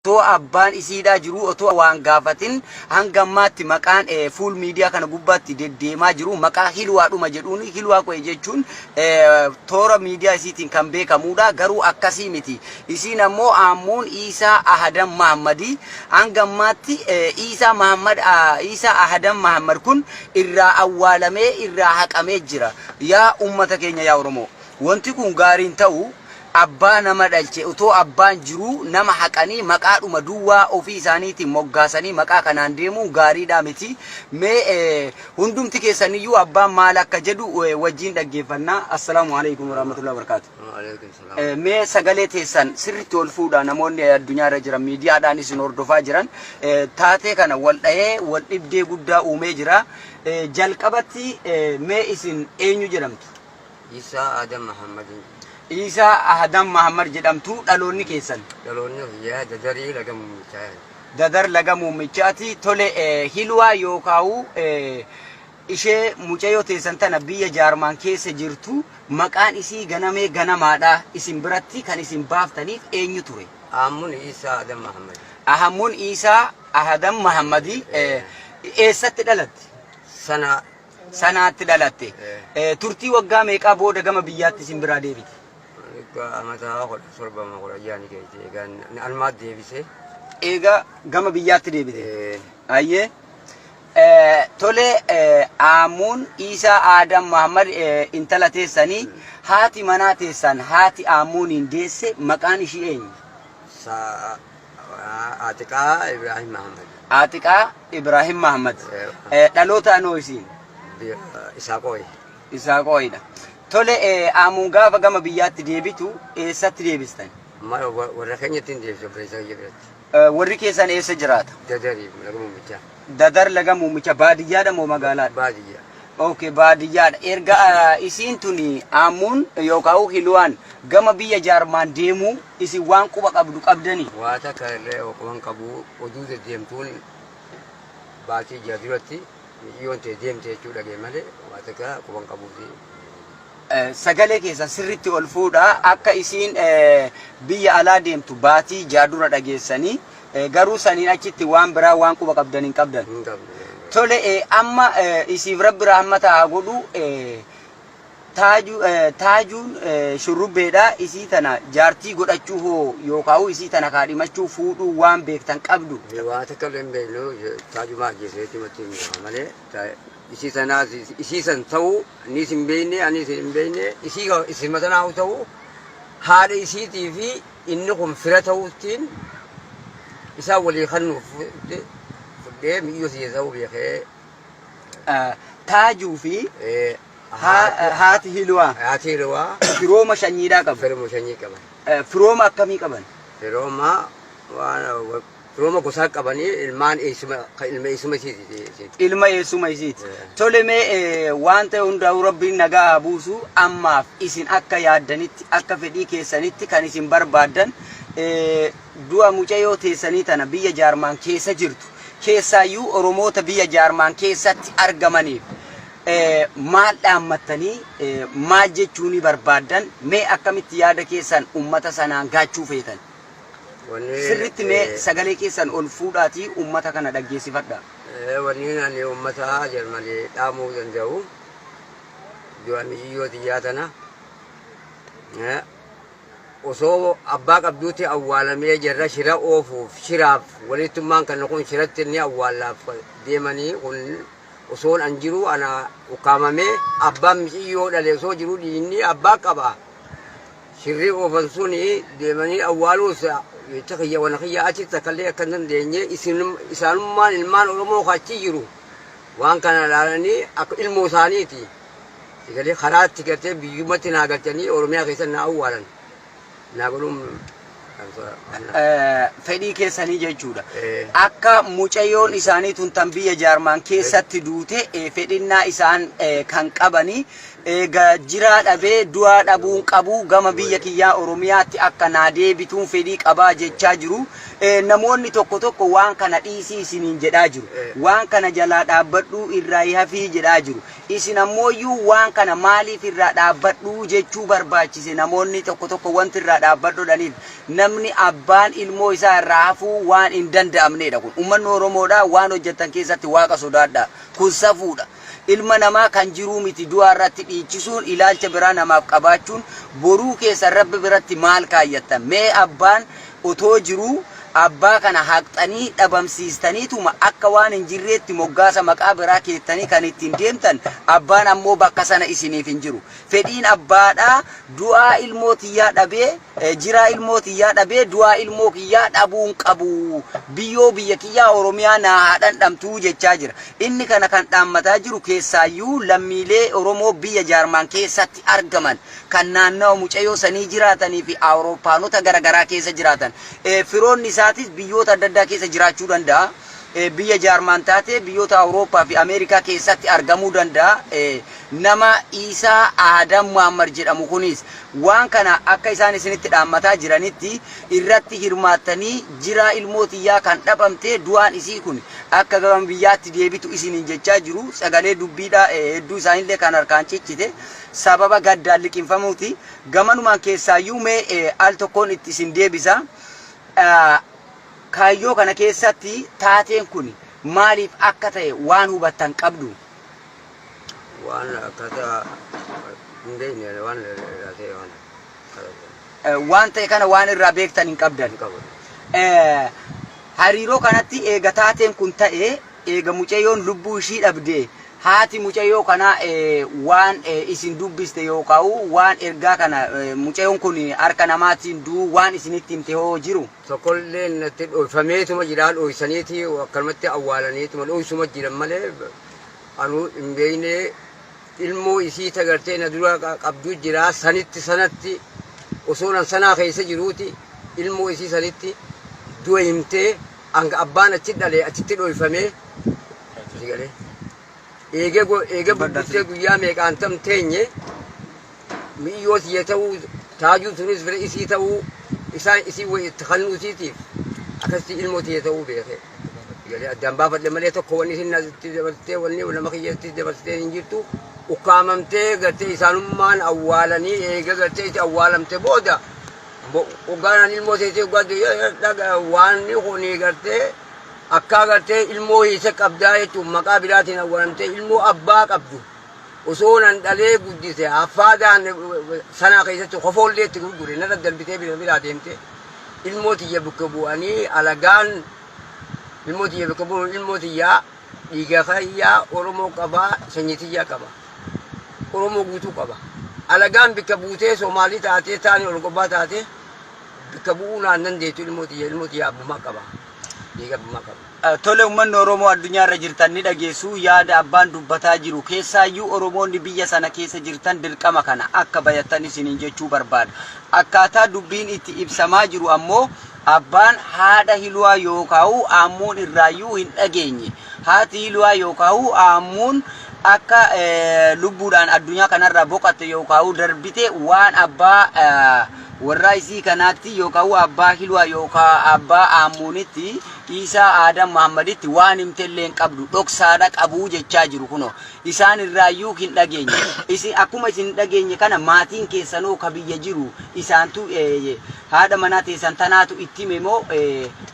Otoo abbaan isii hidhaa jiruu otoo waan gaafatin hanga ammaatti maqaan fuul miidiyaa kana gubbaatti deddeemaa jiru maqaa Hilwaa dhuma jedhuun Hilwaa Qo'ee jechuun toora miidiyaa isiitiin kan beekamuudha. Garuu akkasii miti. Isiin ammoo Aammuun Iisaa Ahadan Mahammadii. Hanga ammaatti Iisaa Mahammad Iisaa Ahadan Mahammad kun irraa awwaalamee irraa haqamee jira. Yaa ummata keenya yaa Oromoo. Wanti kun gaariin ta'u Abbaa nama dhalche otoo abbaan jiruu nama haqanii maqaadhuma duwwaa ofii isaaniitiin moggaasanii maqaa kanaan deemuun gaariidhaa miti. Mee hundumti keessaniyyuu abbaan maal akka jedhu wajjiin dhaggeeffanna. Assalaamu aleykum warahmatullahi wabarakaatu. Waaleykum salaam. Eh, Mee sagalee teessan sirriitti ol fuudhaa namoonni addunyaa irra jiran miidiyaadhaan isin hordofaa jiran eh, taatee kana wal dhahee wal dhibdee guddaa uumee jira. Eh, Jalqabatti eh, mee isin eenyu jedhamtu? Iisaa Aadam Mahammadiin. Iisaa Aadam Mahammad jedhamtu dhaloonni keessan. Dhaloonni kiyyaa Dadarii Laga Muummichaati. Dadar Laga Muummichaati. Tole Hilwaa yookaawu ishee mucayoo teessan tana biyya Jaarmaan keessa jirtu maqaan isii Ganamee Ganamaadha isin biratti kan isin baaftaniif eenyu ture? Ahammuun Iisaa Aadam Mahammadi. Ahammuun Iisaa Aadam Mahammadi. Eessatti dhalatte? Sanaa. sanaatti dhalatte. Turtii waggaa meeqaa booda gama biyyaatti isin biraa deebite? Egaa amataa kudha torba moo kudha ja'a ni geesse. Egaa na- almaat deebisee. Eega gama biyyaatti deebite. Eh, Ayyee. Eh, Tole eh, Aamuun Iisaa Aadam Mahammad eh, intala teessanii haati manaa teessan haati Aamuuniin deesse maqaan ishii eenyu? Sa'a Aatiqaa Ibraahim Mahammad. Aatiqaa Ibraahim Mahammad. Dhalootaan hoo isiin? Isaaqooyi. Isaaqooyidha. Tole Aamuun gaafa gama biyyaatti deebitu eessatti deebistan? Warra keenyatti hin deebisa obboleessa kiyya biratti. Warri keessan eessa jiraata? Dadarii laga mummichaa. Dadar laga muummicha baadiyyaadha moo magaalaadha? Baadiyyaa. Ok baadiyyaadha. Erga isiin tuni Aammuun yookaa'u Hiluwaan gama biyya Jaarmaan deemuu isin waan quba qabdu qabdanii? Waa takka illee quba hin qabu. Oduu deddeemtuun baatii jaha duratti miciyyoon tee deemte jechuu dhaga'e malee waa takka quba hin qabuuti. Sagalee keessan sirriitti ol fuudhaa akka isiin biyya alaa deemtu baatii jaha dura dhageessanii. Garuu saniin achitti waan biraa waan quba qabdan hin qabdan. Hin qabne. Tole eh, amma eh, isiif rabbi rahmata haa godhu eh, taaju, eh, taajuun eh, shurrubbeedha isii tana jaartii godhachuu hoo yookaa'u isii tana kaadhimachuu fuudhuu waan beektan qabdu Waa takka illee hin beeknu taajumaa ajjeeseeti matii hin gaha malee ta- isii sanaas isii san ta'uu anis hin beekne anis hin beekne isii isima sanaa ta'uu haadha isiitii fi Inni kun fira ta'uuttiin isaan walii kannuuf fudhee miyyoo si Esaawuu beekee. Taajuu fi haati Hilwaa. Haati Hilwaa. Firooma shanyiidhaa qabu. Firooma shanyii qaban. Firooma akkamii qaban? Firooma waan Firooma gosaa qabani ilmaan eessuma ka ilma eessuma isiiti isiiti. ilma eessuma isiiti. Eh. Tole mee eh, waan ta'e hundaa'u rabbiin nagaa haa buusu ammaaf isin akka yaaddanitti akka fedhii keessanitti kan isin barbaaddan eh, du'a mucayoo teessanii tana biyya jaarmaan keessa jirtu keessaayyuu oromoota biyya jaarmaan keessatti argamaniif eh, maal dhaammattanii eh, maal jechuunii barbaaddan mee akkamitti yaada keessan ummata sanaan gaachuu feetan Sirritti mee sagalee keessan ol fuudhaati ummata kana dhaggeessifadha. Wanni ani ummata Jarmani dhaamuu danda'u du'a miciyyoo tiyyaa tana osoo abbaa qabduutti awwaalamee jarra shira oofuuf shiraaf walittummaan kan kun shiratti inni awwaallaaf deemanii kun osoon an jiru ana ukkaamamee abbaan miciyyoo dhale osoo jiru dhiinni abbaa qaba. Sirree oofan sun deemanii awwaaluus jecha kiyya wana kiyya achi takkallee akka hin dandeenye isaanummaan ilmaan Oromoo ka achi jiru waan kana ilaalanii akka ilmoo isaaniiti sigalee karaatti gartee biyyumatti naa galchanii Oromiyaa keessa naa awwaalan naa godhuun fedhii keessanii jechuudha. Akka mucayyoon isaanii tun tan biyya jaarmaan keessatti duute fedhinnaa isaan kan qabanii eega jiraa dhabee du'aa dhabuun qabu gama biyya kiyyaa Oromiyaatti akka naa deebituun fedhii qabaa jechaa jiru. Namoonni tokko tokko waan kana dhiisii isiniin jedhaa jiru. Waan kana jalaa dhaabbadhuu irraa hafii jedhaa jiru. Isin ammooyyuu waan kana maaliif irraa dhaabbadhu jechuu barbaachise? Namoonni tokko tokko wanti irraa dhaabbadhu jedhaniif namni abbaan ilmoo isaa irraa hafuu waan hin danda'amneedha kun. Ummanni Oromoodhaa waan hojjettan keessatti Waaqa sodaadhaa. Kun safuudha. Ilma namaa kan jiruu miti du'aa irratti dhiichisuun ilaalcha biraa namaaf qabaachuun boruu keessan Rabbi biratti maal kaayyattan? Mee abbaan otoo jiruu abbaa kana haqxanii dhabamsiistaniituma akka waan hin jirreetti moggaasa maqaa biraa keettanii kan ittiin deemtan abbaan ammoo bakka sana isiniif hin jiru fedhiin abbaadhaa du'aa ilmoo tiyyaa dhabee eh, jiraa ilmoo tiyyaa dhabee du'aa ilmoo kiyyaa dhabuun qabu biyyoo biyya kiyyaa oromiyaa naa haa dhandhamtuu jechaa jira inni kana kan dhaammataa jiru keessaayyuu lammiilee oromoo biyya jaarmaan keessatti argaman kan naannawa mucayoo sanii jiraatanii fi Awurooppaanota gara garaa keessa jiraatan. Firoonni isaatis biyyoota adda addaa keessa jiraachuu danda'a. Biyya Jaarmaan taatee biyyoota Awurooppaa fi Ameerikaa keessatti argamuu danda'a. Nama Iisaa Aadam Muhaammad jedhamu kunis waan kana akka isaan isinitti dhaammataa jiranitti irratti hirmaattanii jiraa ilmoo tiyyaa kan dhabamtee du'aan isii kun akka gama biyyaatti deebitu isiniin jechaa jiru. Sagalee dubbiidhaa hedduu isaanillee kan harkaan cichite. sababa gaddaan liqimfamuuti. Gamanumaan keessaayyuu mee al tokkoon itti isin deebisa. Kaayyoo kana keessatti taateen kun maaliif akka ta'e waan hubattan qabdu? Waan akkasa hin beekne waan irraa ta'e waan. waan ta'e kana waan irraa beektan hin qabdan. Hariiroo kanatti eega taateen kun ta'e eega mucayyoon lubbuu ishii dhabde haati mucayyoo kanaa waan isin dubbiste yookaan waan ergaa kana mucayyoon kun harka namaatiin du'uu waan isinitti himte hoo jiru? Tokkollee natti dhoyfameetuma jira dhoysaniiti akkanumatti awwaalaniituma dhoysuma jiran malee anuu hin beekne ilmoo isii ta gartee na dura qabdu jira sanitti sanatti osoo nan sanaa keessa jiruuti ilmoo isii sanitti du'a himtee hanga abbaan achi dhale achitti dhoyfamee si galee eegee go- eegee Badhaas- bubbultee guyyaa meeqaan tam teenye mi'yoo tiyya ta'uu, taajuu tunis bira isii ta'uu, isaan isii wayii itti kannuu isiitiif akkasitti ilmoo tiyya ta'uu beekee. Jedhee addaan baafadhe malee tokko wanni isin natti dabarsitee wanni nama kiyyatti dabarsitee hin jirtu. Ukkaamamtee gartee isaanummaan awwaalanii eega gartee itti awwaalamte booda hoggaanaan ilmoo teessee hoggaa dhaga waanni kuni gartee akkaa gartee ilmoo hiise qabdaa jechuun maqaa biraatiin awwaalamtee ilmoo abbaa qabdu Osoo nan dhalee guddise haffaadaan sanaa keessatti kofoollee itti gurgure narra darbitee bira biraa deemte ilmoo tiyya bukka bu'anii alagaan ilmoo tiyya bukka bu'uun ilmoo tiyyaa dhiiga kayyaa Oromoo qabaa sanyii tiyyaa qaba Oromoo guutuu qaba alagaan bikka buutee Soomaalii taatee taani Orgobaa taatee bikka bu'uu naan dandeettu ilmoo tiyya ilmoo tiyya abbumaa qaba. Tole ummanni Oromoo addunyaa irra jirtan ni dhageessu yaada abbaan dubbataa jiru keessaayyuu Oromoonni biyya sana keessa jirtan dirqama kana akka bayattan isiniin jechuu barbaada. Akkaataa dubbiin itti ibsamaa jiru ammoo abbaan haadha hiluwaa yookaa'uu aammuun irraayyuu hin dhageenye. Haati hiluwaa yookaa'uu aammuun akka eh, lubbuudhaan addunyaa kanarraa boqatte yookaa'uu darbite waan abbaa eh, Warraa isii kanaatti yookaa u abbaa Hilwaa yookaa abbaa Aammuunitti, Iisaa Aadam Mahaammaditti waan himtellee hin qabdu, dhoksaadha qabuu jechaa jiru kunoo. Isaan irraayyuu hin dhageenye. Isin akkuma isin hin dhageenye kana maatiin keessanoo ka biyya jiru isaantu haadha manaa teessan tanaatu itti hime moo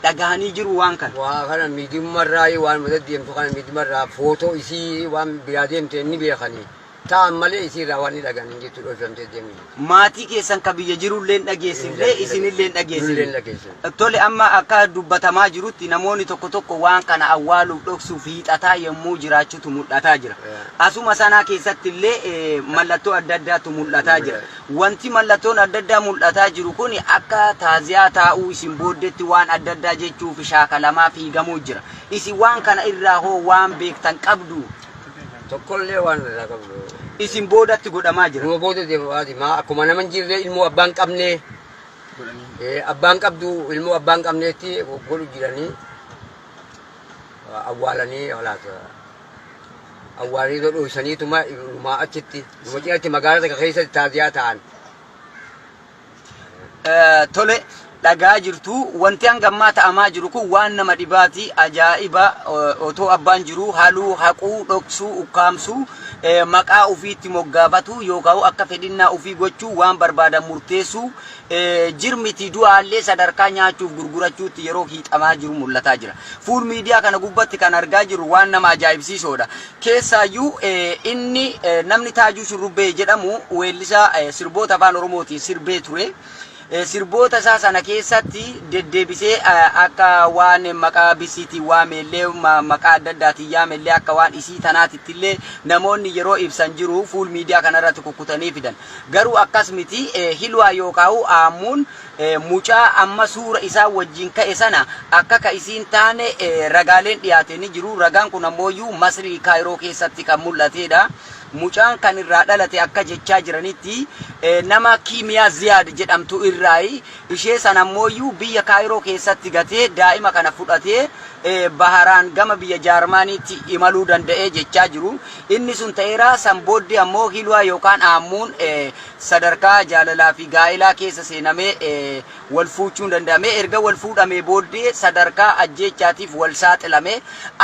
dhagahanii jiruu waan kana? Waa kana miidiyumma irraa waanuma deddeemtu kana miidiyumma irraa footoo isii waan biraa deemte ni beekanii. ta'an malee isii irraa waan ni dhagahan hin jirtu dhoofamtee deemuu jirti. Maatii keessan ka biyya jiru illee hin dhageessifne, isin illee hin dhageessifne. Tole amma akka dubbatamaa jirutti namoonni tokko tokko waan kana awwaaluuf dhoksuuf hiixataa yommuu jiraachutu mul'ataa jira. Asuma sanaa keessatti illee mallattoo adda addaatu mul'ataa jira. Wanti mallattoon adda addaa mul'ataa jiru kun akka taaziyaa taa'uu isin booddetti waan adda addaa jechuuf shaakalamaa fiigamuu jira. Isin waan kana irraa hoo waan beektan qabduu? Tokkollee waan irraa qabnu. Isin boodatti godhamaa jira. Numa booda deemaati. Maa akkuma nama hin jirre ilmoo abbaan qabnee abbaan qabdu ilmoo abbaan qabneetti godhu jiranii awwaalanii olaata. Awwaalanii irra dho'isaniituma ilumaa achitti. Numa cinatti magaalaa takka keessatti taaziyaa ta'an. Tole dhagaa jirtu wanti hanga ammaa ta'amaa jiru kun waan nama dhibaati ajaa'iba otoo abbaan jiruu haluu haquu dhoksuu ukkaamsuu maqaa ufiitti moggaafatuu yookaan akka fedhinnaa ufii gochuu waan barbaadan murteessuu jirmiti du'aallee sadarkaa nyaachuuf gurgurachuutti yeroo hiixamaa jiru mul'ataa jira. Fuul miidiyaa kana gubbatti kan argaa jiru waan nama ajaa'ibsiisoodha. Keessaayyuu inni namni Taajuu Shurrubbee jedhamu weellisaa sirboota Afaan Oromootiin sirbee ture. Sirboota isaa sana keessatti deddeebisee akka waan maqaa Bisiitiin waameellee, maqaa adda addaatiin yaamellee akka waan isii tanaatittillee namoonni yeroo ibsan jiru fuul miidiyaa kanarratti kukkutanii fidan. Garuu akkas miti, Hilwaa yookaa'u Aammuun Mucaa amma suura isaan wajjiin ka'e sana akka ka isii hin taane ragaaleen dhiyaate ni jiru. Ragaan kun ammooyyuu Masrii Kaayiroo keessatti kan mul'ateedha. Mucaan kan irraa dhalate akka jechaa jiranitti nama Kiimiyaa Ziyaad jedhamtu irraayi. Ishee sana ammooyyuu biyya Kaayiroo keessatti gatee daa'ima kana fudhatee baharaan gama biyya Jaarmaaniitti imaluu danda'e jechaa jiru. Inni sun ta'eera san booddee ammoo Hilwaa yookaan Aammuun sadarkaa jaalalaa fi gaa'ilaa keessa seenamee wal fuuchuun danda'amee erga wal fuudhamee booddee sadarkaa ajjeechaatiif wal saaxilamee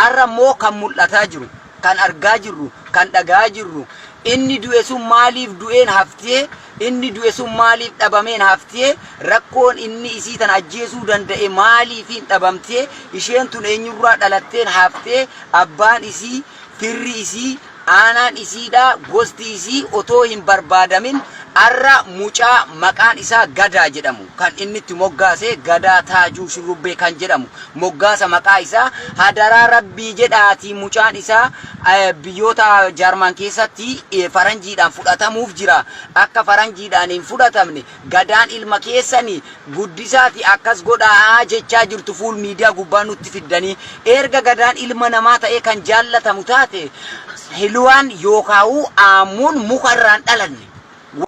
arra immoo kan mul'ataa jiru kan argaa jirru kan dhaga'aa jirru inni du'e sun maaliif du'een haftee inni du'e sun maaliif dhabameen haftee rakkoon inni isii tana ajjeesuu danda'e maaliifiin dhabamtee isheen tun eenyurraa dhalatteen haftee abbaan isii Firri isii, aanaan isiidhaa, gosti isii otoo hin barbaadamin arra mucaa maqaan isaa Gadaa jedhamu kan inni itti moggaase Gadaa Taajuu Shurrubbee kan jedhamu moggaasa maqaa isaa hadaraa Rabbii jedhaatii mucaan isaa biyyoota Jarman keessatti faranjiidhaan fudhatamuuf jira akka faranjiidhaan hin fudhatamne Gadaan ilma keessani guddisaati akkas godhaa'a jechaa jirtu fuul miidiyaa gubbaa nutti fiddanii eerga gadaan ilma namaa ta'ee kan jaallatamu taate heluwaan yookaawuu aammuun muka irraan dhalanne